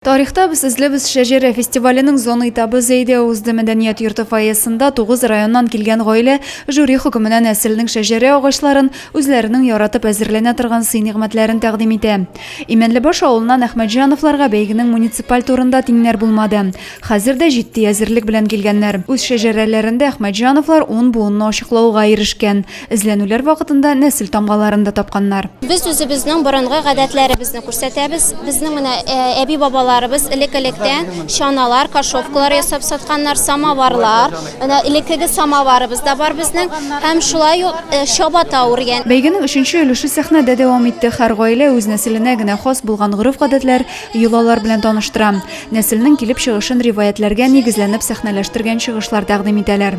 Тарихта без эзлибез шәҗәрә фестиваленең зона этабы Зәйдә узды. Мәдәният йорты фойесында тугыз районнан килгән гаилә жюри хөкеменә нәселнең шәҗәрә агачларын, үзләренең яратып әзерләнә торган сый-нигъмәтләрен тәкъдим итә. Имәнлебаш авылыннан Әхмәтҗановларга бәйгенең муниципаль турында тиңнәр булмады. Хәзер дә җитди әзерлек белән килгәннәр. Үз шәҗәрәләрендә Әхмәтҗановлар ун буынны ачыклауга ирешкән. Эзләнүләр вакытында нәсел тамгаларын да тапканнар. Без үзебезнең борынгы гадәтләребезне күрсәтәбез. Безнең менә әби-бабаларыбыз элек-электән чаналар, кашовкалар ясап сатканнар, самоварлар. Менә элеккеге самоварыбыз да бар безнең һәм шулай ук чабата үргән. Бәйгенең өченче өлеше сәхнәдә дәвам итте. Һәр гаилә үз нәселенә генә хас булган гореф-гадәтләр, йолалар белән таныштыра. Нәселнең килеп чыгышын риваятьләргә нигезләнеп сәхнәләштергән чыгышлар тәкъдим итәләр.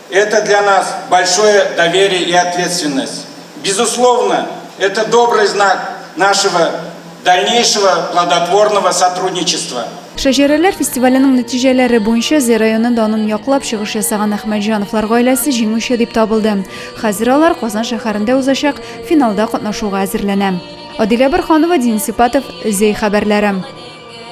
Это для нас большое доверие и ответственность. Безусловно, это добрый знак нашего дальнейшего плодотворного сотрудничества. Шәҗәрәләр фестиваленең нәтиҗәләре буенча Зәй районы данын яклап чыгыш ясаган Әхмәтҗановлар гаиләсе җиңүче дип табылды. Хәзер алар Казан шәһәрендә узачак финалда катнашуга әзерләнә. Адилә Бырханова, Дин Сипатов, Зәй хәбәрләре.